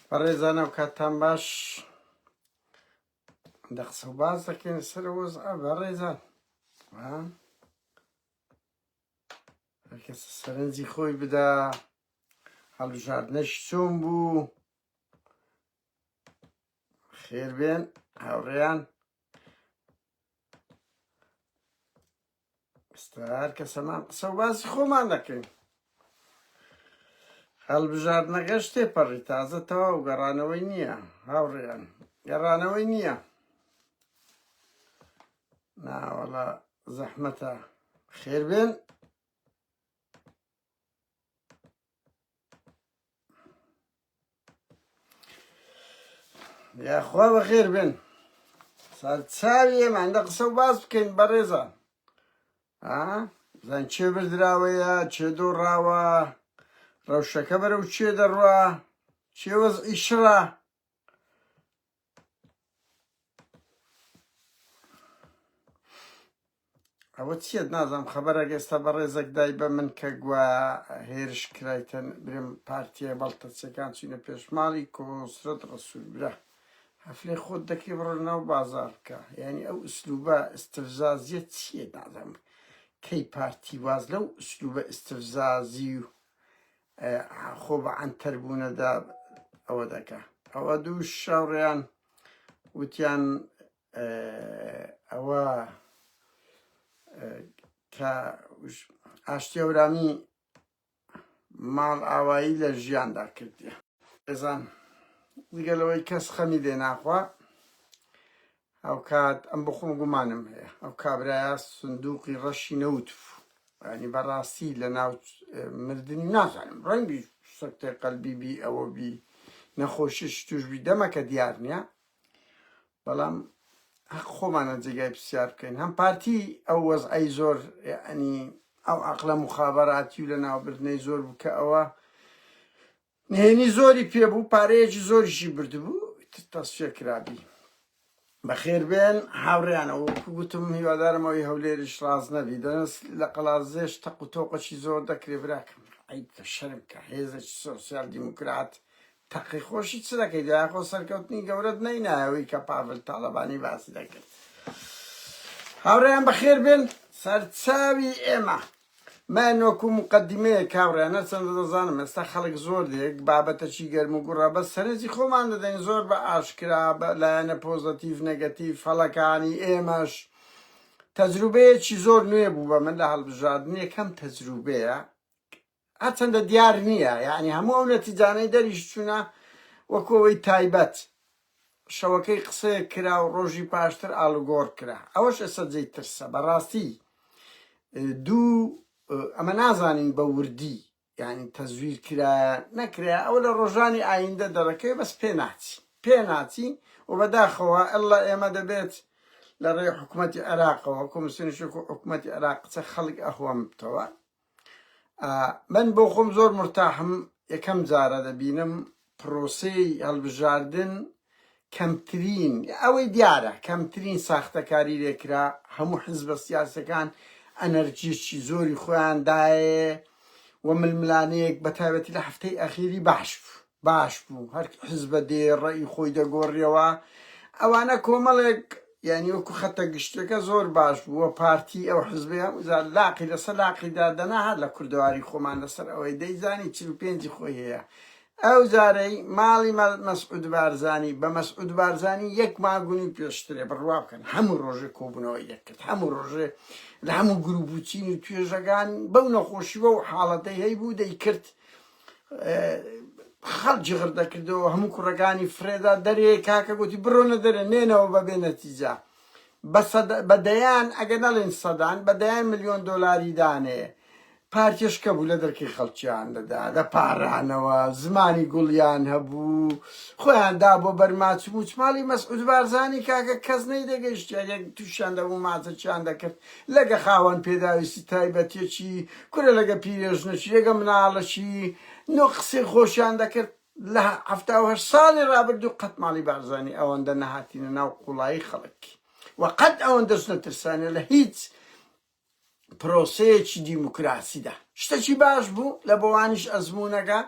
بەڕێزان و کاتتان باش دە قسە و باز دەکەین سەر وەز بەڕێزان کەس سەرنجی خۆی بدا هەڵبژاردنەش چۆن بوو خێربێن هاوڕێیان ئێستا هەر کەس هەمان قسە و باسی خۆمان دەکەین هەڵبژاردنەکەش تێپەڕی تازە تەواو گەڕانەوەی نییە هاوڕێیان گەڕانەوەی نییە ناوەڵە زەحمەتە خێربێن یاخوا بەخێر بێن سەرچاویە مادە قسە و باس بکەین بەڕێزە زان چێ بردراوەیە چێ دۆڕاوە ڕەوشەکە بەرەو چێ دەڕوا چێوەز ئیشڕە ئەوە چیت نازانم خەبەرەک ئێستا بە ڕێزەک دای بە من کە گوە هێرش کرایتن برم پارتیە بەڵتەچەکان چینە پێشماڵی کۆسرەت ڕسوول برا هەفلێ خۆت دەکەی بڕۆ ناو بازار بکە یعنی ئەو ئسلوبە ئستفزازیە چیە نازانم کەی پارتی واز لەو ئسلوبە ئستفزازی و خۆ بە عەنتەر بوونەدا ئەوە دەکا ئەوە دوو شاوڕێیان وتیان ئەوە کە ئاشتی ئەورامی ماڵ ئاوایی لە ژیاندا کردیە ئێزان دیگەلەوەی کەس خەمی لێ ناخوا هاوکات ئەم بخۆم گومانم هەیە ئەو کابرایە سندوقی ڕەشی نەوت بوو ینی بەڕاستی لە ناو مردنی نازانم ڕەنگی سەکتەی قەلبی بی ئەوە بی نەخۆشیش توشبی دەمەکە دیار نییە بەڵام حق خۆمانە جێگای پرسیار بکەین هەم پارتی ئەو وەزعی زۆر ینی ئەو عقلە مخابەراتی و لە ناوبردنەی زۆر بکە ئەوە نهێنی زۆری پێ بوو پارەیەکی زۆریشی بردبوو ئیتر تەسفیە کرابی بەخێر بێن هاوڕێیانە وەکو گوتم هیوادارم ئەوی هەولێریش ڕاست نەبی دەنس لە قەڵازێش تەق و تۆقەشی زۆر دەکرێ براکەم عیب کە شەرم کە هێزێکی سۆسیال دیموکرات تەقی خۆشی چ دەکەیت یاخۆ سەرکەوتنی گەورەت نەینایەوەی کە پاڤل تاڵەبانی باسی دەکرد هاوڕێیان بەخێر بێن سەرچاوی ئێمە من وەکو موقەدیمەیەک کابڕیان هەرچەندە دەزانم ئێستا خەڵک زۆر دێک بابەتەکی گەرم و گوڕە بەس سەرنجی خۆمان دەدەین زۆر بە ئاشکرا بە لایەنە پۆزەتیڤ نەگەتیڤ هەڵەکانی ئێمەش تەجروبەیەکی زۆر نوێ بوو بە من لە هەڵبژاردن یەکەم تەجروبەیە هەرچەندە دیار نییە یعنی هەموو ئەو نەتیجانەی دەریش چوونە وەکۆەوەی تایبەت شەوەکەی قسەیەک کرا و ڕۆژی پاشتر ئاڵوگۆڕ کرا ئەوەش ئێستا جێی ترسە بەڕاستی دوو ئەمە نازانین بە وردی یانی تەزویر کرایە نەکرایە ئەوە لە ڕۆژانی ئایندە دەڕەکەوێ بەس پێ ناچین پێ ناچین و بەداخەوە ئەللا ئێمە دەبێت لە ڕێی حکومەتی عێراقەوە کۆمسیۆنیشێک و حکومەتی عێراق قسە خەڵک ئەهوەم بتەوە من بۆ خۆم زۆر مرتاحم یەکەم جارە دەبینم پرۆسەی هەڵبژاردن کەمترین ئەوەی دیارە کەمترین ساختەکاری لێکرا هەموو حزبە سیاسەکان ئەنەرجیی زۆری خۆیاندایە و ململانەیەک بە تایبەتی لە هەفتەی ئەخیری باش بوو باش بوو هەر حزبە دێ ڕەئی خۆی دەگۆریەوە ئەوانە کۆمەڵێک یانی وەکو خەتە گشتەکە زۆر باش بوو وە پارتی ئەو حزبەیە وزار لاقی لەسەر لاقی دادەنا هەر لە کوردەواری خۆمان لەسەر ئەوەی دەیزانی چل و پێنجی خۆی هەیە ئەو زارەی ماڵی مەسعود بارزانی بە مەسعود بارزانی یەک ماگونی پێشترێ بڕوا بکەن هەموو ڕۆژێ کۆبوونەوەی دەکرد هەموو ڕۆژێ لە هەموو گروپ و چین و توێژەکان بەو نەخۆشی بەو حاڵەتەی هەیبوو دەیکرد خەڵک جغر دەکردەوە هەموو کوڕەکانی فرێدا دەرێ کاکە گوتی بڕۆنە دەرێ نێنەوە بە بێ نەتیجە بە دەیان ئەگە نەڵێن سەدان بە دەیان ملیۆن دۆلاری دانێ پارتێشکە بوو لە دەرکی خەڵکیان دەدا دە پارانەوە زمانی گوڵیان هەبوو خۆیان دا بۆ بەرماچ موچماڵی مەسعود بارزانانی کاکە کەس نەی دەگەشت تووشیان دەبوو ماچەکیان دەکرد لەگە خاوەن پێداویستی تایبەتیەکی کورە لەگە پیرێژنەکی لەگە مناڵەکی نۆ قسەی خۆشیان دەکرد لە حەفتا و هەشت ساڵی ڕابردوو قەت ماڵی بارزانی ئەوەندە نەهاتینە ناو قوڵایی خەڵک و قەت ئەوەندەش نەترسانە لە هیچ پرۆسەیەکی دیموکراسیدا شتەکی باش بوو لە بۆوانیش ئەزمونەگە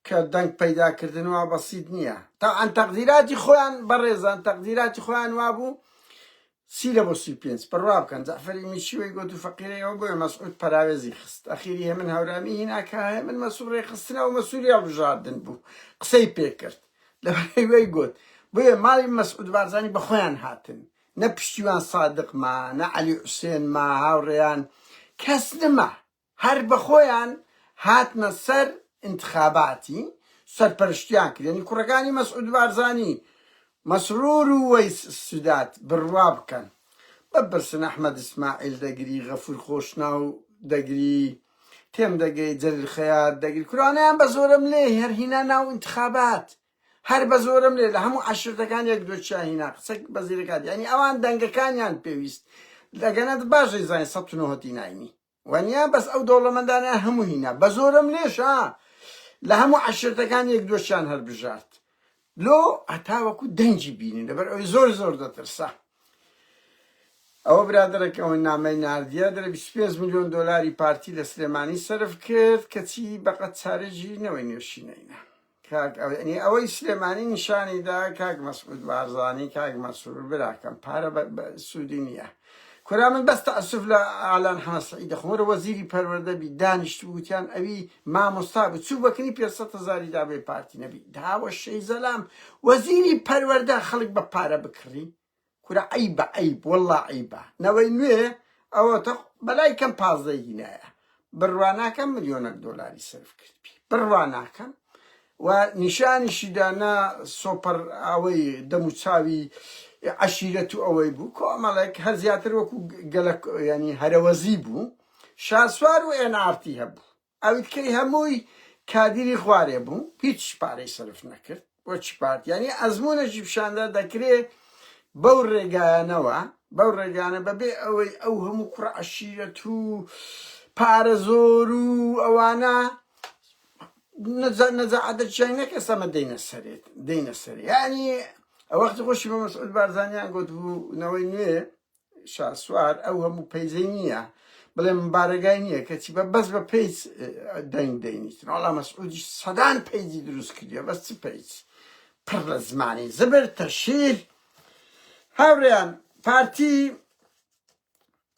کە دەنگ پەیداکردن وا بەسیت نییە تاعاان تەقدیراتی خۆیان بەڕێزان تەقدیراتی خۆیان وابوو چی لە بۆ سی و پێنج بڕوا بکەن جەعفەری میچی وەی گۆت و فەقیرەی ئەوە بۆیە مەسعود پەراوێزی خست ئەخیری هێمن هەورامی هینا کە هێمن مەسوو ڕێکخستنە و مەسوولی هەڵبژاردن بوو قسەی پێ کرد لەبەرەی وەی گۆت بۆیە ماڵی مەسعود بارزانی بە خۆیان هاتن نە پشتیوان سادق ما نە عەلی حوسێن ما هاوڕێیان کەس نما هەر بەخۆیان هاتنە سەر ئینتخاباتی سەرپەرشتیان کرد یانی کوڕەکانی مەسعود بارزانی مەسرور و وەیس سداد بڕوا بکەن بپرسن ئەحمەد ئیسماعیل دەگری غەفور خۆشناو دەگری تێم دەگەی جەلیل خەیات دەگری کورانەیان بە زۆرەم لێ هەر هینا ناو ئینتخابات هەر بە زۆرەم لێ لە هەموو عەشرەتەکان یەک دو چیا هینا قسە بەزیرەکات یانی ئەوان دەنگەکانیان پێویست لەگەنە باش دەیزانی سەد و نۆ هەتی ناینی وەنیا بەس ئەو دەوڵەمەندانە هەموو هینا بەزۆرم لێش ها لە هەموو عەشرەتەکان یەک دۆشیان هەر بژارد لۆ هەتاوەکو دەنگی بینن لەبەر ئەوی زۆر زۆر دەترسا ئەوە برادەرەکەەوە نامەی نردە دە 25 میلیۆن دلاری پارتی لە سلێمانی سرف کرد کەچی بەقەت چارەژی نەوەی نوێشینەینە کاک ئەوینی ئەوەی سلێمانی نیشانی دا کاک مەسعود بارزانی کاک مەسرور براکەم پارە بە بە سوودی نییە کورا من بەس تەعسف لە ئالان حەمە سعید دەخۆم وەرە وەزیری پەروەردە بی دانیشت بوتیان ئەوی مامۆستا بوو چوو بەکنی پێ سەد هەزاری دا بێ پارتی نەبی داوە شەی زەلام وەزیری پەروەردە خەڵک بە پارە بکڕی کورە عەیبە عەیب وەڵا عەیبە نەوەی نوێ ئەوەتە خۆ بەلای کەم پازدە هینایە بڕوا ناکەم ملیۆنەک دۆلاری سەرف کردبی بڕوا ناکەم و نیشانیشی دا نا سۆپەر ئەوەی دەم و چاوی عەشیرەت و ئەوەی بوو کۆمەڵێک هەر زیاتر وەکو گەلە ینی هەرەوەزی بوو شاسوار و ئێن ئارتی هەبوو ئەویت کەی هەمووی کادیری خوارێ بوو هیچ پارەی سەرف نەکرد بۆچی پارت یانی ئەزمونەکی پیشاندا دەکرێ بەو ڕێگایانەوە بەو ڕێگانە بەبێ ئەوەی ئەو هەموو کوڕە عشیرەت و پارە زۆر و ئەوانە نەجا نەجاعەتە چیای نەک ئێسامە دەینە سەرێت دەینە سەر یانی ئەوەختی خۆشی بە مەسعود بارزانیان گوت بوو نەوەی نوێ شاسوار ئەو هەموو پەیجەی نییە بڵێ من بارەگای نییە کەچی بە بەس بە پێیج دەنگ دەینیتن وڵا مەسعودی سەدان پەیجی دروست کردیە بەس چ پەیج پڕ لە زمانی زبر تەشیر هاوڕێیان پارتی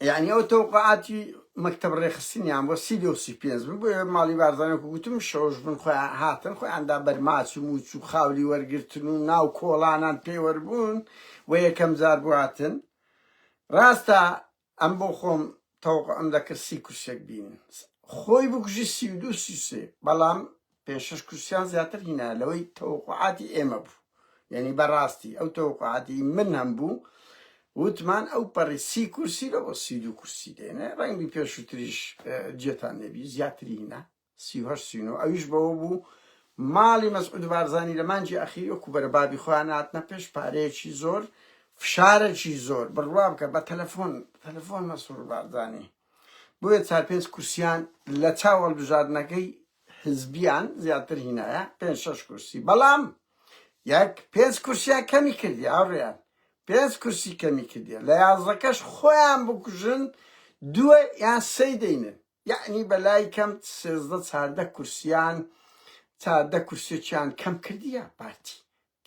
یعنی ئەو تەوقعاتی مەکتب ڕێخستنیان بۆ سی دو سی پێنج من بۆ ماڵی بارزانە گوتم شەوش بن خۆیان هاتن خۆیاندا بەرماچ و موچ و خاولی وەرگتن و ناو کۆڵانان پێوەربوون بۆ یەکەم جار بواتن راستە ئەم بۆ خۆم تەوقعم دەکرد سی کورسیەک بینن خۆی بکوژی سی و دوو سی و سێ بەڵام پێنج شەش کورسیان زیاتر هینا لەوەی تەوقعاتی ئێمە بوو یعنی بەڕاستی ئەو تەوقعاتی من هەم بوو وتمان ئەو پەڕی سی کورسی لەوە سی و دوو کورسی دێنێ ڕەنگی پێشووتریش جێتان نەبی زیاتری هینا سی و هەشت سی و نۆ ئەویش بەوە بوو ماڵی مەسعود بارزانی لە مانگی ئەخیر وەکو بەرە بابی خۆیان هاتنە پێش پارەیەکی زۆر فشارەکی زۆر بڕوا بکە بە تەلەفۆن تەلەفۆن مەسرور بارزانی بۆیە چار پێنج کورسیان لە چاو هەڵبژاردنەکەی حزبیان زیاتر هینایە پێنج شەش کورسی بەڵام یەک پێنج کورسیان کەمی کردی هاوڕیان پێنج کورسی کەمی کردی لە یازەکەش خۆیان بکوژن دووە یان سەی دەینن یەعنی بە لای کەم سێزدە چاردە کورسیان چاردە کورسێکیان کەم کردیە پارتی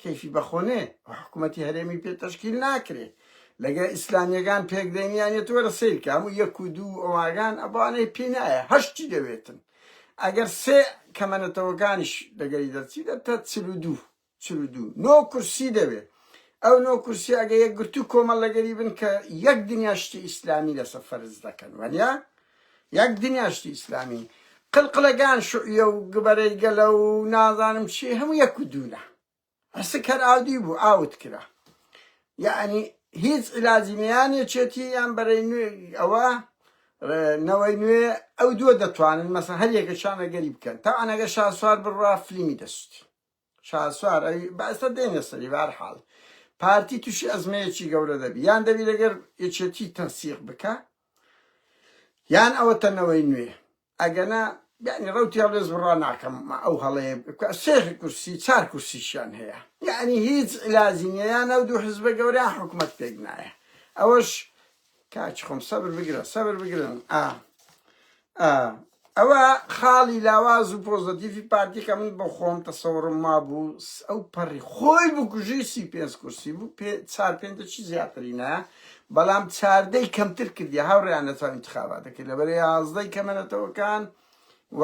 کەیفی بەخۆنێ و حکوومەتی هەرێمی پێ تەشکیل ناکرێ لەگە ئیسلامیەکان پێکدێنیانێت وەرە سیرکە هەموو یەک و دوو ئەواگان ئەبانەی پێ نایە هەشتی دەوێتن ئەگەر سێ کەمەنەتەوەکانیش لەگەری دەرچی دەتە چل و دوو چل و دوو نۆ کورسی دەوێ ئەو نۆ کورسیە ئەگە یەکگرتوو کۆمەڵ لەگەری بن کە یەک دنیا شتی ئیسلامی لەسە فەرز دەکەن وەنیا یەک دنیا شتی ئیسلامی قلقلەگان شعیە و گبەرەی گەلە و نازانم چی هەموو یەک و دوونە ئەسک هەر ئاودی بوو ئاوت کرا یعنی هیچ علاجی نیانە چێتی یان بەرەی نوێ ئەوە نەوەی نوێ ئەو دووە دەتوانن مەسە هەر یەکە شانە گەری بکەن تا ئەنەگە شاسوار بڕا فلیمی دەستی شاسوار ئەی با ئێستا دێنە سەری بە هەر حاڵ پارتی تووشی ئەزمەیەکی گەورە دەبی یان دەبی لەگەر یەکێتی تەنسیق بکە یان ئەوە تەنەوەی نوێ ئەگەنا یعنی ڕوتی هەڵێز بڕا ناکەم ئەو هەڵەیە بکە سێخ کورسی چار کورسیشیان هەیە یعنی هیچ علاجی نییە یان ئەو دوو حزبە گەوریان حکومت پێک نایە ئەوەش کاکی خۆم سەبر بگرە سەبر بگرن ئا ئا ئەوە خاڵی لاواز و پۆزەتیفی پارتیکە من بۆ خۆم تەسەوڕم ما بوو ئەو پەڕی خۆی بکوژی سی پێنج کورسی بوو پێ چار پێنجە چی زیاترینە بەڵام چاردەی کەمتر کردی هاوڕیان لە چاو انتخاباتەکە لەبەر یازدەی کەمەنەتەوەکان و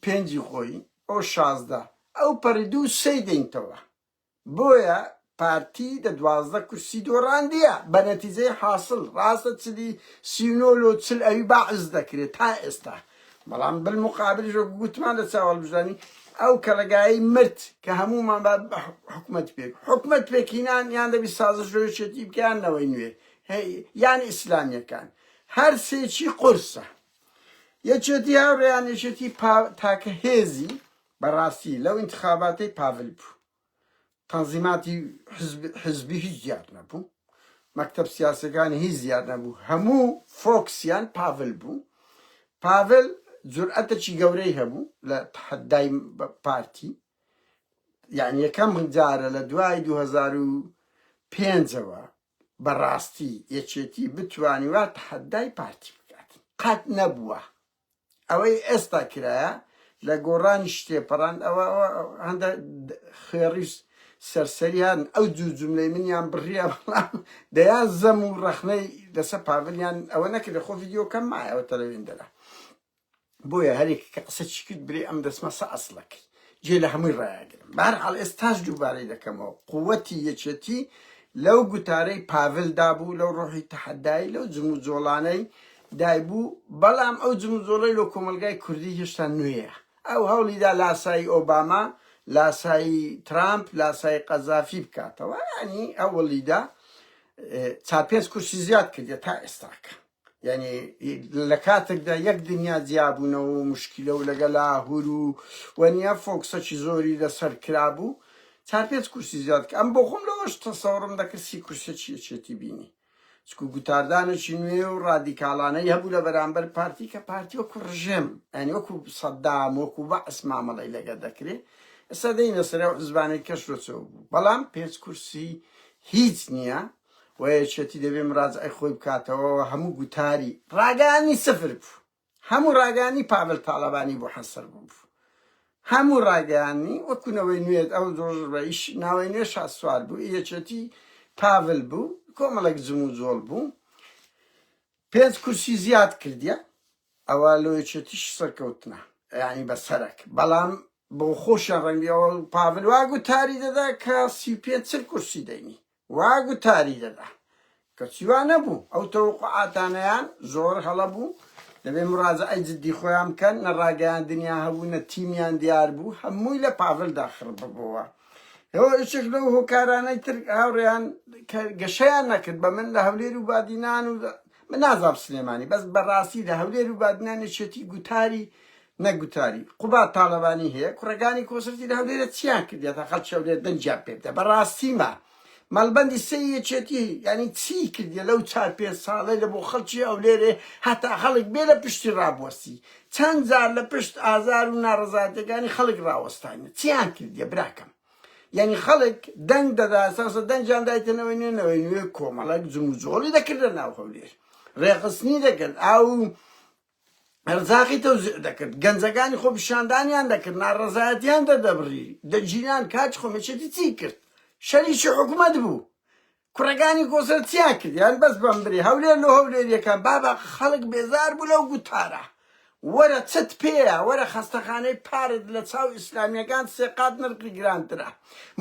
پێنجی خۆی ئەو شازدە ئەو پەڕی دوو سەی دەینتەوە بۆیە پارتی دە دوازدە کورسی دۆڕاندیە بە نەتیجەی حاسڵ ڕاستە چلی سی و نۆ لۆ چل ئەوی بەعس دەکرێ تا ئێستا بەڵام بلموقابلیش وەکو گوتمان لە چاو هەڵبژرانی ئەو کەڵەگایەی مرد کە هەموومان با حکومەت پێک حکومەت پێکینان یان دەبی سازش ژۆیشێتی بکەیان نەوەی نوێ یان ئیسلامیەکان هەر سێکی قرسە یەکێتی هاوڕێیان یەکێتی تاکە هێزی بەڕاستی لەو ئینتخاباتەی پاڤل بوو تەنزیماتی حیزبی هیچ دیار نەبوو مەکتەب سیاسیەکانی هیچ دیار نەبوو هەموو فۆکسیان پاڤل بوو پاڤل جورئەتەکی گەورەی هەبوو لە تەحەدای پارتی یعنی یەکەم جارە لە دوای 2005ەوە بەڕاستی یەکێتی بتوانی وا تەحەدای پارتی بکات قەت نەبووە ئەوەی ئێستا کرایە لە گۆڕانی شتێپەڕاند ئەوە ئەوە هەندە خوێڕی سەرسەریان ئەو دوو جملەی منیان بڕیە بەڵام دەیان زەم و ڕەخنەی لەسەر پاڤلیان ئەوە نەکرێ خۆ ڤیددیوکەم مایەوە تەلەوێن دەرا بۆیە هەرێک کە قسە چی کرد برێ ئەم دەسمە سە ئەسڵەکەی جێ لە هەمووی ڕایەگرم. بەهەرحاڵ ئێستاش دووبارەی دەکەمەوە، قووتی یەکێتی لەو گوتارەی پاڤل دا بوو، لەو ڕۆحی تەحەدایی، لەو جموجۆڵانەی دای بوو، بەڵام ئەو جموجۆڵەی لۆ کۆمەڵگای کوردی هێشتا نوێیە. ئەو هەوڵی دا لاسایی ئۆباما، لاسایی ترامپ، لاسایی قەزافی بکاتەوە، یانی هەوڵی دا چار پێنج کورسی زیاد کردیە تا ئێستاکە. یانی لە کاتێکدا یەک دنیا جیابوونەوە و مشکیلە و لەگە لاهور و و نیە فۆکسەکی زۆری لە سەر کرابوو چار پێنج کورسی زیاد کە ئەم بۆ خۆم لەوەش تەسەوڕم دەکرد سی کورسێکی یەکێتی بینی چکو گوتاردانێکی نوێ و ڕادیکاڵانەی هەبوو لە بەرامبەر پارتی کە پارتی وەکو ڕژێم ئەنی وەکو سەدام وەکو بەعس مامەڵی لەگە دەکرێ ئێستا دەینە سەرە و حزبانەی کەش لۆچەوە بوو بەڵام پێنج کورسی هیچ نییە و یەکێتی دەبێ مراجعەی خۆی بکاتەوە و هەموو گوتاری ڕاگەیاندنی سفر بوو. هەموو ڕاگەیاندنی پاڤل تاڵەبانی بۆ حەسەر بوو. هەموو ڕاگەیاندنی وەکوو نەوەی نوێ ئەو ڕۆژ ڕەئیش ناوەی نوێ شاسوار بوو، یەکێتی پاڤل بوو، کۆمەڵێک جموجۆڵ بوو. پێنج کورسی زیاد کردیە، ئەوە لۆ یەکێتیش سەرکەوتنە، یانی بە سەرەک. بەڵام بۆ خۆشیان ڕەنگبی ئەوە پاڤل وا گوتاری دەدا کە سی و پێنج چل کورسی دەینی. وا گوتاری دەدا. کەچی وا نەبوو. ئەو تەوەقوعاتانەیان زۆر هەڵە بوو. دەبێ مڕاجەعەی جددی خۆیان بکەن. نە ڕاگەیاندنیان هەبوو، نە تیمیان دیار بوو. هەمووی لە پاڤلدا خڕ ببۆوە. ئەوە یەکێک لەو هۆکارانەی تر هاوڕێیان کە گەشەیان نەکرد بە من لە هەولێر و بادینان و من نازام سلێمانی بەس بەڕاستی لە هەولێر و بادینان یەکێتی گوتاری نەک گوتاری. قوباد تاڵەبانی هەیە کوڕەکانی کۆسرەتی لە هەولێرە چیان کردیە تا خەڵکی هەولێر دەنگیان پێ بدە بەڕاستی مە مەڵبەندی سێ یەکێتی یانی چی کردیە لەو چار پێنج ساڵەی لە بۆ خەڵکی هەولێرێ هەتا خەڵک بێ لە پشتی ڕابوەستی چەند جار لە پشت ئازار و ناڕەزایەتەکانی خەڵک ڕاوەستانی چیان کردیە براکەم یعنی خەڵک دەنگ دەدا ساسە دەنگیان دایتە نەوەی نوێ نەوەی نوێ کۆمەڵک جموجۆڵی دەکرد لە ناو هەولێر ڕێخستنی دەکرد ئاو قەرزاقی تەوزیع دەکرد، گەنجەکانی خۆپیشاندانیان دەکرد، ناڕەزایەتیان دەردەبڕی، دەگیران، کاتی خۆمێشێتی چی کرد؟ شەریکی حکومەت بوو، کوڕەکانی کۆسرەت چیان کرد؟ یان بەس بەم برێ، هەولێر لۆ هەولێریەکان، بابە خەڵک بێزار بوو لەو گوتارە، وەرە چت پێیە، وەرە خەستەخانەی پارت لە چاو ئیسلامیەکان سێ قات نرخی گرانترە،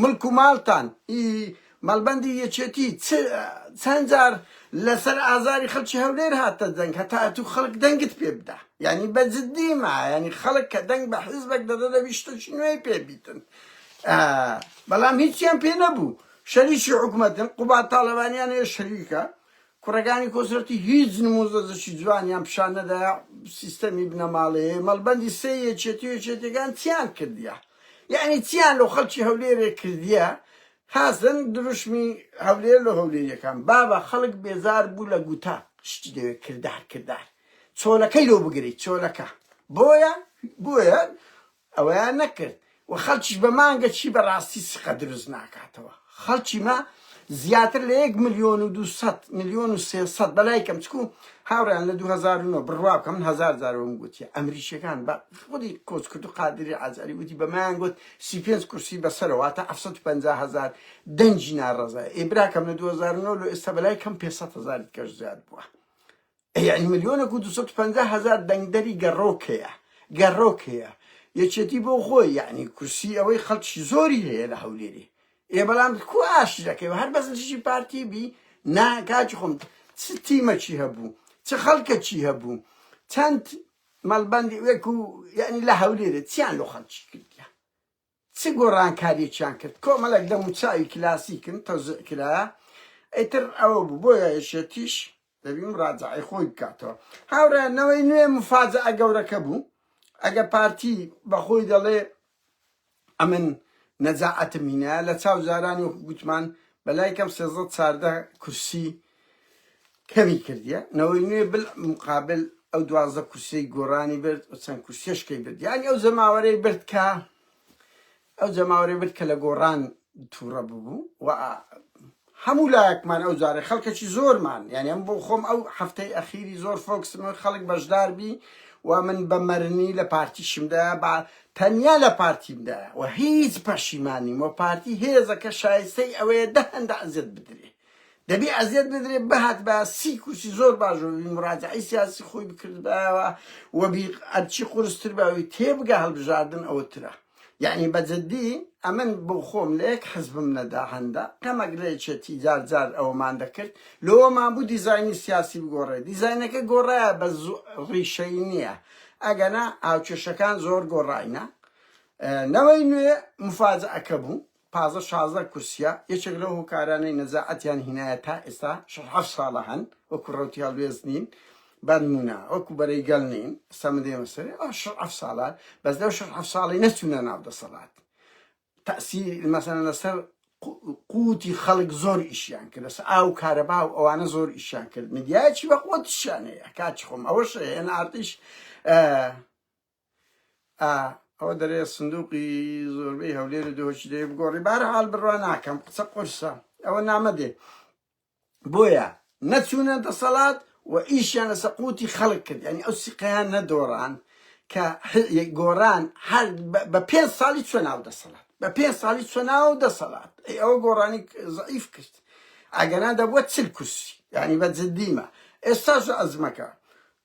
ملک و مالتان، ی مەڵبەندی یەکێتی چ چەند جار لەسەر ئازاری خەڵکی هەولێر هاتە دەنگ هەتا ئەتوو خەڵک دەنگت پێ بدا یعنی بە جددی ما یعنی خەڵک کە دەنگ بە حیزبێک دەدە دەبی شتەکی نوێی پێ بیتن آه، بەڵام هیچیان پێ نەبوو شەریکی حکوومەتن قوبات تاالبانیان هەیە شەریکە کوڕەکانی کۆسرەتی هیچ نموزەزشی جوانیان پیشان نەدا سیستەمی بنەماڵەیە مەڵبەندی سێ یەکێتی و یەکێتەکان چیان کردیە یعنی چیان لەو خەڵکی هەولێرێ کردیە حەسەن دروشمی هەولێر لۆ هەولێریەکان بابە خەڵک بێزار بوو لە گووتە شتی دەوێت کردار کردار چۆلەکەی لۆ بگریت چۆلەکە بۆیە بۆیە ئەوەیان نەکرد و خەڵکیش بە مانگە چی بە ڕاستی سقە دروست ناکاتەوە خەڵکی مە زیاتر لە یەک ملیۆن و دوسەد ملیۆن و سێسەد بەلای کەم چکو هاوڕیان لە 2009 بڕوا بکەم هزار زارەوەم گوتیە ئەمریکیەکان بە خودی کۆچ کرد و قادری ئازاری وتی بەمایان گوت سی و پێنج کورسی بەسەرە واتە حەفت سەد و پەنجا هەزار دەنگی ناڕەزای ئەی براکەم لە دوو هەزار و نۆ لۆ ئێستا بەلای کەم پێنج سەد هەزار دکەش زیاد بووە ئەی یانی ملیۆنەک و دوو سەد و پەنجا هەزار دەنگدەری گەڕۆک هەیە گەڕۆک هەیە یەکێتی بۆ خۆی یعنی کورسی ئەوەی خەڵکی زۆری هەیە لە هەولێری ئێ بەڵام کو ئاشی دەکەی و هەر بەس دژی پارتی بی نا کاکی خۆم چ تیمەکی هەبوو چ خەڵکەکی هەبوو چەند مەڵبەندی وەکو یەعنی لە هەولێرە چیان لۆ خەڵکی کردیە چ گۆڕانکاریەکیان کرد کۆمەڵێک دەموچاوی کلاسیکن تەوزیع کرایە ئیتر ئەوە بوو بۆیە یەکێتیش دەبی مراجعەی خۆی بکاتەوە هاوڕێیان نەوەی نوێ مفاجعە گەورەکە بوو ئەگە پارتی بەخۆی دەڵێ ئەمن نەجاعەتم هینایە لە چاو جارانی وەکو گوتمان بە لای کەم سێزدە چاردە کورسی کەمی کردیە نەوەی نوێ بل مقابل ئەو دوازدە کورسی گۆرانی برد و چەند کورسیشکەی برد یانی ئەو جەماوەرەی برد کە ئەو جەماوەرەی برد کە لە گۆڕان تووڕە ببوو و هەموو لایەکمان ئەو جارەی خەڵکەکی زۆرمان یانی ئەم بۆ خۆم ئەو هەفتەی ئەخیری زۆر فۆکسم خەڵک بەشدار بی و من بە مەرنی لە پارتیشمدا با تەنیا لە پارتیمدا و هیچ پەشیمانیم و پارتی هێزەکە شایستەی ئەوەیە دە هەندە ئەزیەت بدرێ دەبی ئەزیەت بدرێ بهات بە سی کورسی زۆر باش و مراجعی سیاسی خۆی بکردبایەوە و بی ئەرچی قورستر باوی تێبگە هەڵبژاردن ئەوە ترە یەعنی بە جدی ئەمن بۆ خۆم لە یەک حزبم نەدا هەندە کەمەک لە یەکێتی جار جار ئەوەمان دەکرد لۆوەمان بوو دیزاینی سیاسی بگۆڕێ دیزاینەکە گۆڕایە بە ڕیشەی نییە ئەگەنا هاوکێشەکان زۆر گۆڕاینە نەوەی نوێ مفاجئەکە بوو تازە شازدە کورسیە، یەکێک لەو هۆکارانەی نەزاعەتیان هینایە تا ئێستا شەش حەفت ساڵە هەن وەکو ڕەوتی هەڵوێست نین بەنمونە وەکو بەرەی گەل نین ئێستا من دێمە سەرێ ئەوە شەش حەفت ساڵە بەس لەو شەش حەفت ساڵەی نەچونە ناو دەسەڵات تەئسیر مەسەلەن لەسەر قوتی خەڵک زۆر ئیشیان کرد لەسەر ئاو کارەبا و ئەوانە زۆر ئیشیان کرد میدیایەکی بە قوتشیان هەیە کاچ خۆم ئەوەش هێن ئارتیش ئا ئەوە دەرێ سندوقی زۆربەی هەولێر و دۆچ دەێ بگۆڕی بارەحال بڕوا ناکەم قسە قرسە ئەوە نامە دێ بۆیە نەچوونە دەسەڵات و ئیشیان لە سەقوتی خەڵک کرد ینی ئەو سیقیان نەدۆڕان کە گۆران هەر بە پێ ساڵی چۆ ناو دەسەڵات بە پێ ساڵی چۆ ناو دەسەڵات ئەوە گۆڕانی زعیف کرد ئەگەنا دەبووە چل کورسی ینی بە جدیمە ئێستا ئەزمەکە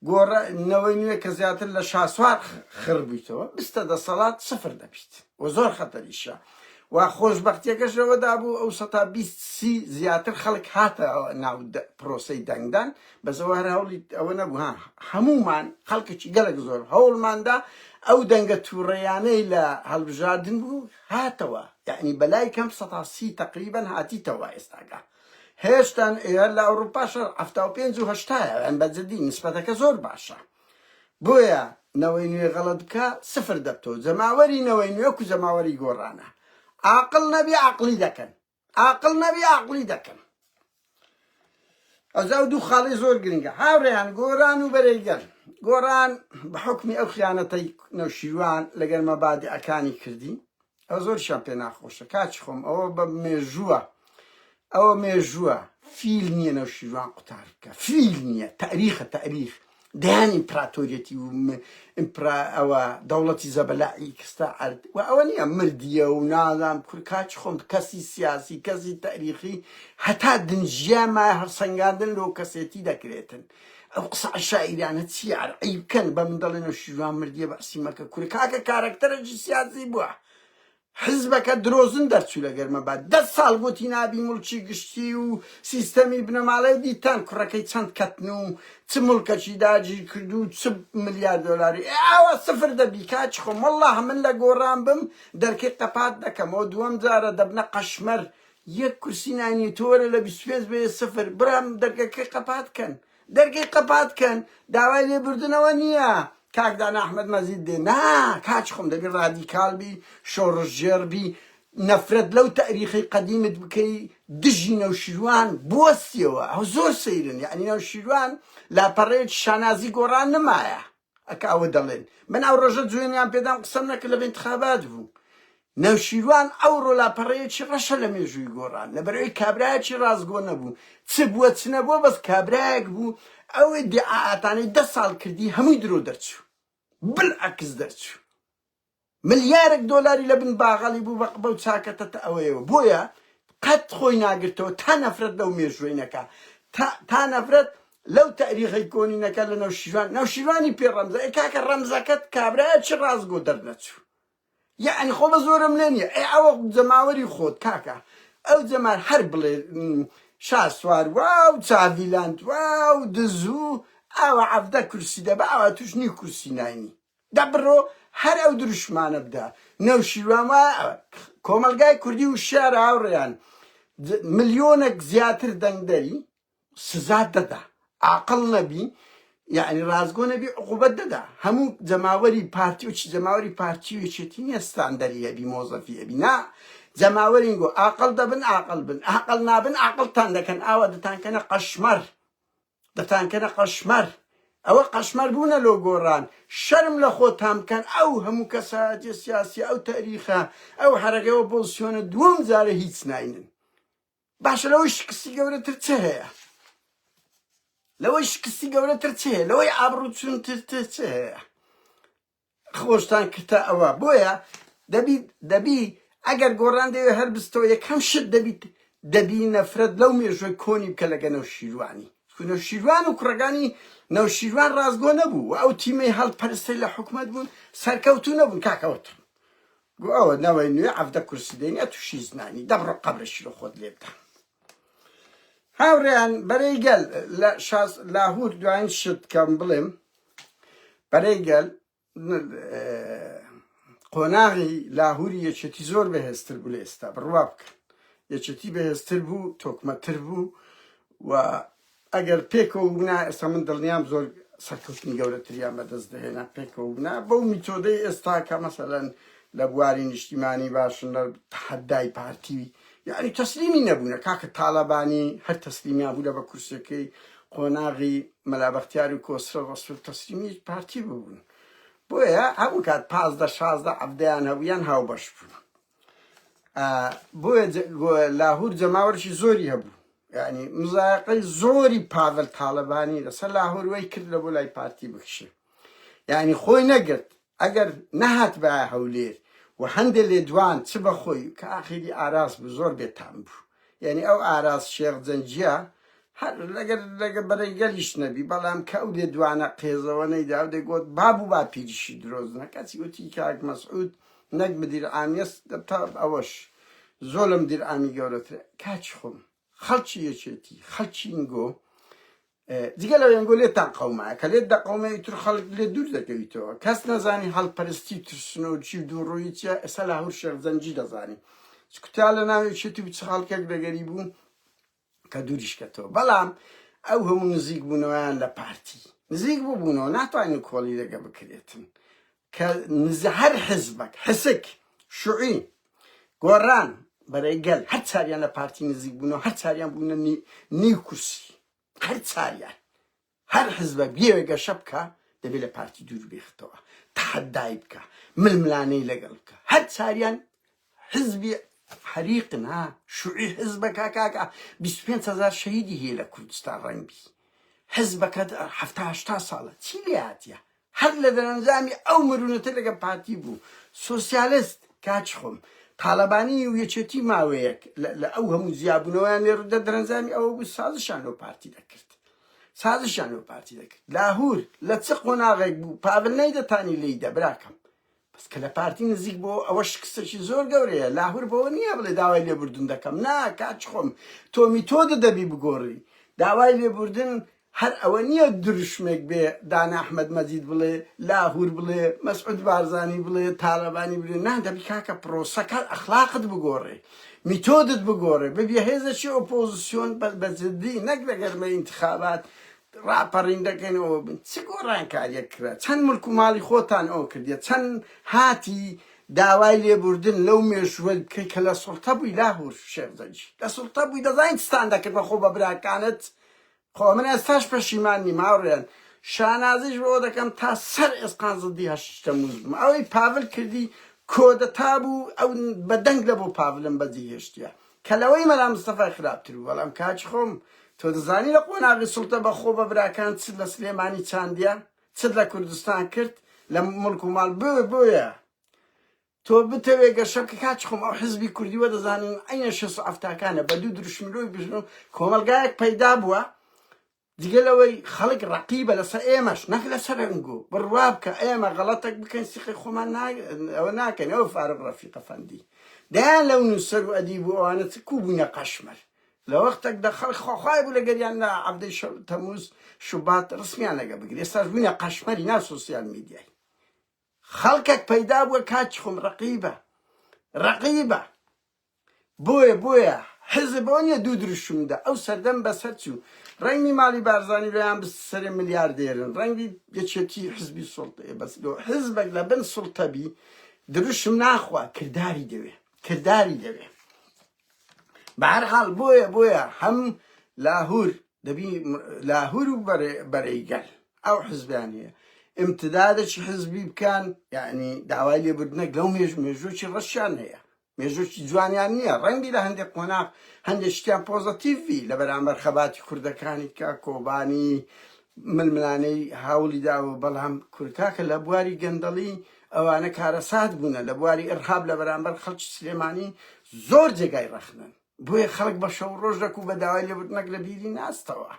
گۆڕە نەوەی نوێ کە زیاتر لە شاسوار خڕ بویتەوە بستە دەسەڵات سفر دەبیت و زۆر خەتەریشە و خۆشبەختیەکەش لەوە دابوو ئەو سەتا بیست سی زیاتر خەڵک هاتە ناو پرۆسەی دەنگدان بەسەوە هەر هەوڵی ئەوە نەبوو ها هەمومان خەڵکێکی گەلک زۆر هەوڵماندا ئەو دەنگە تووڕیانەی لە هەڵبژاردن بوو هاتەوە یعنی بەلای کەم سەتا سی تقریبا هاتیتەوە ئێستاگە هێشتان ئێ لە ئەوروپا شەر حەفتا و پێنج و هەشتایە یان بە جدی نیسبەتەکە زۆر باشە بۆیە نەوەی نوێ غەڵەت بکە سفر دەبتەوە جەماوەری نەوەی نوێ کو جەماوەری گۆڕانە عاقڵ نەبی عەقڵی دەکەن عاقڵ نەبی عەقڵی دەکەن ئەجا و دوو خاڵی زۆر گرنگە هاوڕێیان گۆران و بەرەیگەل گۆران بە حکمی ئەو خیانەتەی نەوشیروان لەگەر مەبادئەکانی کردی ئەوە زۆرشیان پێ ناخۆشە کاچ خۆم ئەوە بە مێژووە ئەوە مێژووە فیل نییە نەو شیروان قوتار بکە فیل نییە تاریخە تاریخ دەیان ئیمپراتۆریەتی و ئیمپرا ئەوە دەوڵەتی زەبەلائی کستە عرد و ئەوە نییە مردیە و نازان کور کاچ خۆم کەسی سیاسی کەسی تاریخی هەتا دنجیاما هەڵسەنگاندن لۆ کەسێتی دەکرێتن ئەو قسە عەشایرانە چیە ئەر عەیب کەن بە من دەڵێ نەوشیروان مردیە بەعسی مەکە کورە کاکە کارەکتەرەکی سیاسی بوە حزبەکە درۆزن دەرچوو لە گەرمە با دە ساڵ گوتی نابی مڵکی گشتی و سیستەمی بنەماڵەی دیتان کوڕەکەی چەند کەتن و چ مڵکەکی داگیر کرد و چ ملیار دۆلاری ئێ ئاوا سفر دەبی کاچ خۆم والله من لە گۆڕان بم دەرکەی قەپات دەکەمەوە دووەم جارە دەبنە قەشمەر یەک کورسی نانی تۆ وەرە لە بیست و پێنج بەیە سفر برام دەرگەکەی قەپات کەن دەرگەی قەپات کەن داوای لێ بردنەوە نییە کاک دانا ئەحمەد مەزید دێ نا کاچ خۆم دەبی ڕادیکال بی شۆڕشگێڕ بی نەفرەت لەو تاریخی قەدیمت بکەی دژی نەوشیروان بوەستیەوە ئەو زۆر سەیرن یعنی نەوشیروان لاپەڕەیەکی شانازی گۆڕان نمایە ئەک ئەوە دەڵێن من ئەو ڕۆژە جوێنیان پێدام قسەم نەکرد لە بنتخابات بوو نەوشیروان ئەو ڕۆلاپەڕەیەکی ڕەشە لە مێژووی گۆڕان لەبەرەوەی کابراایەکی ڕاستگۆ نەبوو چ بووە چ نەبووە بەس کابراایەک بوو ئەوەی دیعااتانەی دە ساڵ کردی هەمووی درۆ دەرچوو بل عکس دەرچوو ملیارێک دۆلاری لە بن باغەڵی بوو بە قبەو چاکە تە تە ئەوەیەوە بۆیە قەت خۆی ناگرتەوە تا نەفرەت لەو مێژووەی نەکا تا تا نەفرەت لەو تەریخەی کۆنی نەکا لە نەوشیروان نەوشیروانی پێ ڕەمزە ئەی کاکە ڕەمزەکەت کابرایە چ ڕاست گۆ دەرنەچوو یعنی خۆ بە زۆرم لێ نییە ئەی ئەوە جەماوەری خۆت کاکە ئەو جەمار هەر بڵێ شا سوار واو چاڤیلاند واو دزوو ئاوا عەفدە کورسی دەبە ئاوا توش نیو کورسی ناینی دە بڕۆ هەر ئەو دروشمانە بدە. نەوشیروان وایە کۆمەڵگای کوردی وشیار هاوڕێیان ملیۆنەک زیاتر دەنگدەری سزا دەدا ئاقڵ نەبی یەعنی ڕاستگۆ نەبی عقوبەت دەدا هەموو جەماوەری پارتی و چ جەماوەری پارتی و یەکێتی نیە ستاندەری ئەبی مۆزەفی ئەبی نا جەماوەرین گۆ ئاقڵ دەبن ئاقڵ بن ئاقڵ نابن ئاقڵتان دەکەن ئاوا دەتانکەنە قەشمەر دەتانکەنە قەشمەر ئەوە قەشمەر بوونە لۆ گۆڕان شەرم لە خۆتان بکەن ئەو هەموو کەسایەتیە سیاسیە ئەو تەریخە ئەو حەرەکەی ئۆپۆزسیۆنە دووەم جارە هیچ ناینن باشە لەوەی شکستی گەورەتر چ هەیە لەوەی شکستی گەورەتر چ هەیە لەوەی ئابڕوو چونتر چ هەیە خۆشتان کردتە ئەوە بۆیە دەبی دەبی ئەگەر گۆڕان دەوێ هەر بستەوە یەکەم شت دەبیت دەبی نەفرەت لەو مێژووی کۆنی بکە لەگە نەوشیروانی چون نەوشیروان و کوڕەکانی نەوشیروان ڕازگۆ نەبوو و ئەو تیمەی هەڵپەرستەی لە حکومەت بوون سەرکەوتو نەبوون کاکەوتر گو ئەوە نەوەی نوێ عەفدە کورسی دێنێ تووشی زنانی دەبڕە قەبرەشی لە خۆت لێ بدە هاوڕێیان بەرەی گەل لە شاز لاهور دواین شت کەم بڵێم برای گەل قۆناغی لاهوری یەکێتی زۆر بەهێزتر بوو لە ئێستا بڕوا بکەن یەکێتی بەهێزتر بوو تۆکمەتر بوو و ئەگەر پێکەوە بنا ئێستا من دڵنیام زۆر سەرکەوتنی گەورەتریان بەدەست دەهێنا پێکەوە بنا بەو میتۆدەی ئێستا کە مەسەلەن لە بواری نیشتیمانی باشن لە تحدای پارتی یانی تەسلیمی نەبوونە کاکە تاڵەبانی هەر تەسلیمیا بوو لە بە کورسیەکەی قۆناغی مەلا بەختیار و کۆسرە ڕەسول تەسلیمی پارتی ببوون بۆیە هەموو کات پازدە شازدە عەبدەیان هەبوویان هاوبەش بوون بۆیە لاهور جەماوەرشی زۆری هەبوو یعنی مزایقەی زۆری پاڤل تاالبانی لەسەر لاهوروی کرد لە بۆ لای پارتی بکشێ یعنی خۆی نەگرت ئەگەر نەهاتبایە هەولێر و هەندێ لێدوان چ بە خۆی و کە ئاخیری ئاراس بوو زۆر بێ تام بوو یانی ئەو ئاراس شێخ جەنگیە هەر لەگەر لەگە بەرەی گەلیش نەبی بەڵام کە ئەو لێدوانە قێزەوە نەیدا و دەگۆت باب و باپیریشی درۆزنە کەچی وتی کاک مەسعود نەک مدیر عامیەس تا ئەوەش زۆر لە مدیر عامی گەورەترە کاچی خۆم خەڵکی یەکێتی خەڵکی ئینگۆ جگە لەوەی ئەنگۆ لێتان قەومایە کە لێت دەقەومێ ئیتر خەڵک لێ دوور دەکەویتەوە کەس نەزانی هەڵپەرستی ترسنۆکی و دووڕووی چیە ئێستا لە هەور شێخ جەنگی دەزانی چکوتا لە ناوێ چێتی و چ خەڵکێک دەگەری بوو کە دووریشکەتەوە بەڵام ئەو هەموو نزیک بوونەوەیان لە پارتی نزیک ببوونەوە ناتوانین کۆڵی دەگە بکرێتن کە نزە هەر حزبەک، حسک، شوعی، گۆڕان، بەرەی گەل، هەر چاریان لە پارتی نزیک بوونەوە، هەر چاریان بوونە نی نیو کورسی، هەر چاریان، هەر حزبەک بیەوێ گەشە بکا، دەبێ لە پارتی دوور بێختەوە، تەحەدای بکا، ململانێی لەگەڵ بکا، هەر چاریان حزبی حەریقن ها، شوعی حزبەکە کاکە بیست و پێنج هەزار شەهیدی هەیە لە کوردستان، ڕەنگ بی حزبەکەت حەفتا هەشتا ساڵە، چی لێ هاتیە، هەر لە دەرەنجامی ئەو مرونەتە لەگەڵ پارتی بوو سۆسیالست کاچ خۆم تالەبانی و یەکێتی ماوەیەک لە ئەو هەموو جیابونەوەیان لێ ڕوودا دەرەنجامی ئەوە بوو سازشان لەو پارتی دەکرد سازشان لەو پارتی دەکرد لاهور لە چ قۆناغێک بوو پاڤل نەیدەتانی لێیدا براکەم بەس کە لە پارتی نزیک بووە ئەوە شکستێکی زۆر گەورەیە، لاهور بەوە نییە بڵێ داوای لێبوردن دەکەم، نا کاچ خۆم، تۆ میتۆدت دەبی بگۆڕی، داوای لێبوردن هەر ئەوە نییە دروشمێک بێ دانا احمد مجید بڵێ، لاهور بڵێ، مسعود بارزانی بڵێ، تالەبانی بڵێ، نا دەبی کاکە پرۆسەکە ئەخلاقت بگۆڕێ، میتۆدت بگۆڕێ، ببیە هێزێکی ئۆپۆزسیۆن بە جدی نەک لە گەرمەی ئینتخابات ڕاپەڕیندەکەن ئەوە بن چ گۆڕانکاریەک کرا چەند ملک و ماڵی خۆتان ئەوە کردە چەند هاتی داوای لێبوردن لەو مێشوەل بکەی کە لە سڵتە بووی لاهور شێخزەنجی لە سڵتە بووی دەزانین چتان دەکرد بەخۆ بە براکانت خۆ من ئێستاش پەشیمان نیم هاوڕێن شانازیش بۆ دەکەم تا سەر ئێسقان زدی هەشتە موز بم ئەوەی پاڤل کردی کۆدەتا بوو ئەو بەدەنگ لە بۆ پاڤلم بەجێ هێشتە کە لەوەی مەلا مستەفای خراپتر بوو بەڵام کاکی خۆم تۆ دەزانی لە قۆناغی سوڵتە بە خۆ بە براکان چت لە سلێمانی چاندیە چت لە کوردستان کرد لە مڵک و ماڵ بۆ بۆیە تۆ بتەوێ گەشە بکە کاکی خۆم ئەو حزبی کوردی وە دەزانن ئەینە شەس ئەفتاکانە بە دوو دروشملۆی بژن و کۆمەلگایەک پەیدا بووە جگە لەوەی خەڵک ڕەقیبە لەسەر ئێمەش نەک لەسەر ئەنگۆ بڕوا بکە ئێمە غەڵەتەک بکەین سیقەی خۆمان ئەوە ناکەین ئەوە فارغ ڕەفیقە فەندی دەیان لەو نووسەر و ئەدیب و ئەوانە چ کوو بوونە قەشمەر لە وەختێک دە خەڵک خواخوای بوو لەگەریان لە عەبدەی شەو تەموز شوبات ڕسمیان لەگە بگرێ ئێستاش بوونە قەشمەری ناو سۆسیال میدیای خەڵکێک پەیدا بووە کاکی خۆم ڕەقیبە ڕەقیبە بۆیە بۆیە حیزب بەوە نیە دوو دروشم دا ئەو سەردەم بەسەر چوو ڕەنگی ماڵی بارزانی بەیان بست سەرێ ملیاردێرن ڕەنگی یەکێتی حیزبی سوڵتەیە بەس لۆ حیزبەک لە بن سوڵتە بی دروشم ناخوا کرداری دەوێ کرداری دەوێ بە هەر حاڵ بۆیە بۆیە هەم لاهور دەبی لاهور و بەرە- بەرەی گەل ئەو حیزبیان هەیە امتدادێکی حیزبی بکەن یعنی داوای لێبوردنەک لەو مێژ مێژووی ڕەشیان هەیە مێژووکی جوانیان نیە ڕەنگی لە هەندێک قۆناغ هەندێک شتیان پۆزەتیڤ بی لە بەرامبەر خەباتی کوردەکانی کە کۆبانی ململانێی هاولی داوە بەڵام کورد کاکە لە بواری گەندەڵی ئەوانە کارەسات بوونە لە بواری ئرهاب لە بەرامبەر خەڵکی سلێمانی زۆر جێگای ڕەخنەن. بۆیە خەڵک بە شەو ڕۆژ دەکوو بە داوای لێبوردنەک لە بیری ناستەوە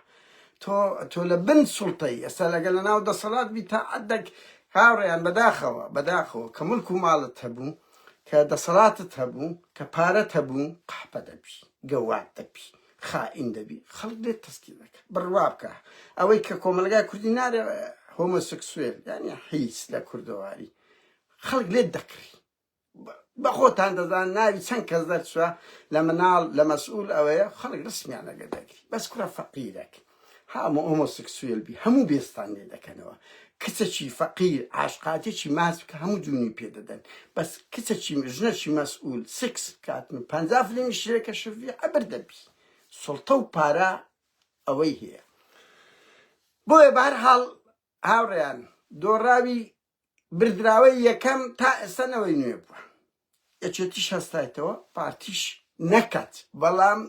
تۆ تۆ لە بن سوڵتەی ئێستا لەگەل لە ناو دەسەڵات بی تا عدەک هاوڕێیان بەداخەوە بەداخەوە کە ملک و ماڵت هەبوو کە دەسەڵاتت هەبوو کە پارەت هەبوو قەحپە دەبی گەواد دەبی خائین دەبی خەڵک لێت تەسکی دەکە بڕوا بکە ئەوەی کە کۆمەلگای کوردی نارێ هۆمۆسکسوێل یانی حیز لە کوردەواری خەڵک لێت دەکڕی بەخۆتان دەزان ناوی چەند کەس دەرچوە لە مناڵ لە مەسئول ئەوەیە خەڵک ڕسمیان لەگە دەگری بەس کوڕە فەقیرەک هامۆ ئۆمۆسکسوێل بی هەموو بێستان لێ دەکەنەوە کچەکی فەقیر عاشقاتێکی ماس بکە هەموو جوونی پێدەدەن بەس کچەکی ژنەکی مەسئول سکس بکاتن و پەنجا فلیمی شرێکە شڤی عەبر دەبی سڵتە و پارە ئەوەی هەیە بۆیە بەهەرحاڵ هاوڕێیان دۆڕاوی بردراوەی یەکەم تا ئێستا نەوەی نوێ بووە یەکێتیش هەستایتەوە پارتیش نەکات بەڵام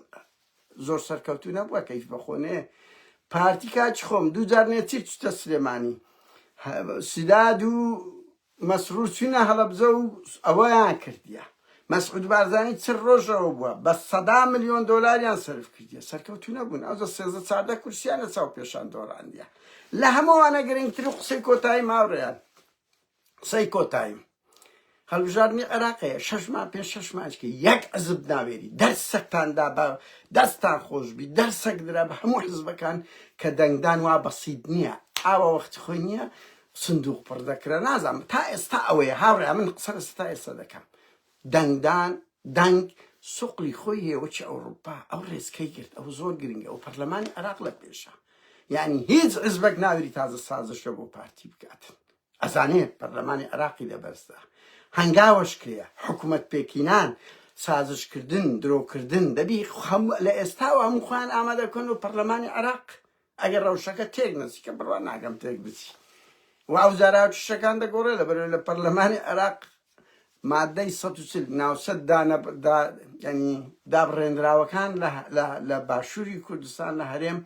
زۆر سەرکەوتو نەبووە کەیش بەخۆنێ پارتی کاچ خۆم دوو جار نێچیر چتە سلێمانی سیداد و مەسرور چوینە هەڵەبزە و ئەوەیان کردیە مەسعود بارزانی چل ڕۆژەوە بووە بە سەدا ملیۆن دۆلاریان سەرف کردیە سەرکەوتو نەبوون ئەو دە سێزدە چاردە کورسیان لە چاو پێشان دۆڕاندیە لە هەمووانە گرنگتر و قسەی کۆتایی ماوڕێیان قسەی کۆتایی هەڵبژاردنی عێراقەیە شەشمان پێ شەشمانچکە یەک عزب ناوێری دەرسەکتاندا بە دەستان خۆشببی دەرسەک درا بە هەموو حزبەکان کە دەنگدان وا بەسیید نییە ئاوە وەخت خۆی نییە سندوق پڕ دەکرا نازانم تا ئێستا ئەوەیە هاوڕێیان من قسە لە ستا ئێستا دەکەم دەنگدان دەنگ سوقلی خۆی هەیە وەکی ئەوروپا ئەو ڕێزکەی گرت ئەو زۆر گرنگە ئەو پەرلەمانی عێراق لە پێشە یعنی هیچ عزبەک ناوری تازە سازشە بۆ پارتی بکاتن ئەزانێ پەرلەمانی عێراقی لەبەرزدا هەنگاوەش کرێ حکوومەت پێکینان سازشکردن درۆکردن دەبی خەم لە ئێستاوە هەموو خۆیان ئامادەکەن و پەرلەمانی عێراق ئەگەر ڕەوشەکە تێک نەچی کە بڕوا ناکەم تێک بچی و ئەو زاراو کیشەکان دەگۆڕێ لەبەرەوەی لە پەرلەمانی عێراق مادەی سەد و چل ناوچە دانە دا یعنی دابڕێنراوەکان لە لە لە باشووری کوردستان لە هەرێم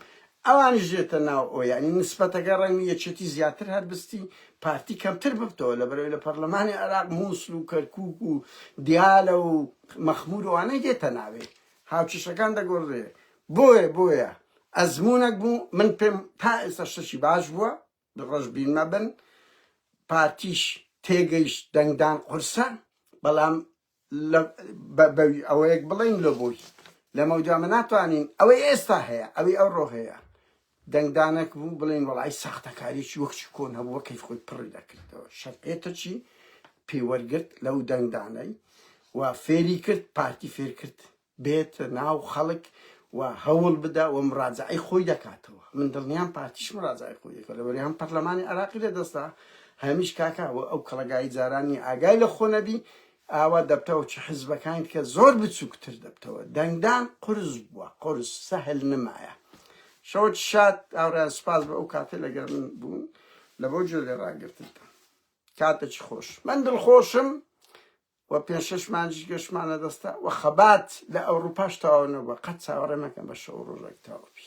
ئەوانیش دێتە ناو ئەو یعنی نسبەتەکە ڕەنگی یەکێتی زیاتر هەربستی پارتی کەمتر ببتەوە لە بەرەوەی لە پەرلەمانی عێراق مووسل و کەرکووک و دیالە و مەخمور وانەی دێتە ناوێ هاوکیشەکان دەگۆڕێ بۆیە بۆیە ئەزموونەک بوو من پێم تا ئێستا شتەکی باش بووە ڕەش بین مەبن پارتیش تێگەیشت دەنگدان قورسە بەڵام لە بە- بەوی ئەوەیەک بڵین لە بۆی لەمە دوامە ناتوانین ئەوەی ئێستا هەیە ئەوەی ئەو ڕۆ هەیە دەنگدانەک بوو بڵین وڵی ساختەکاریی وەکچی کۆن هەبووە کەی خۆی پڕی دەکردەوە شەرقێتەچی پێوەرگرت لەو دەنگدانەی و فێری کرد پارتی فێر کرد بێتە ناو خەڵک و هەوڵ بدا و مڕاجەعەی خۆی دەکاتەوە من دڵنیام پارتیش مڕاجەعەی خۆی دەکا لەوەری هەم پەڕلەمانی عێراقی لە دەستا هەمیش کاکا و ئەو کەڵەگای جاران نیە ئاگای لە خۆ نەبی ئاوا دەبتەوە چ حزبەکاین کە زۆر بچوک تر دەبتەوە دەنگدان قورس بوە قورس سەهل نمایە شەوت شاد ئاورا سپاس بە ئەو کاتە لەگەر من بوون لە بۆ جۆ لێ ڕاگرتنتان کاتە چ خۆش من دڵ خۆشم و پێنج شەش مانجیش گەشتمانە دەستە و خەبات لە ئەوروپاش تەواو نەبووە قەت چاوەڕێ مەکەن بە شەو و ڕۆژەک تەواو بی.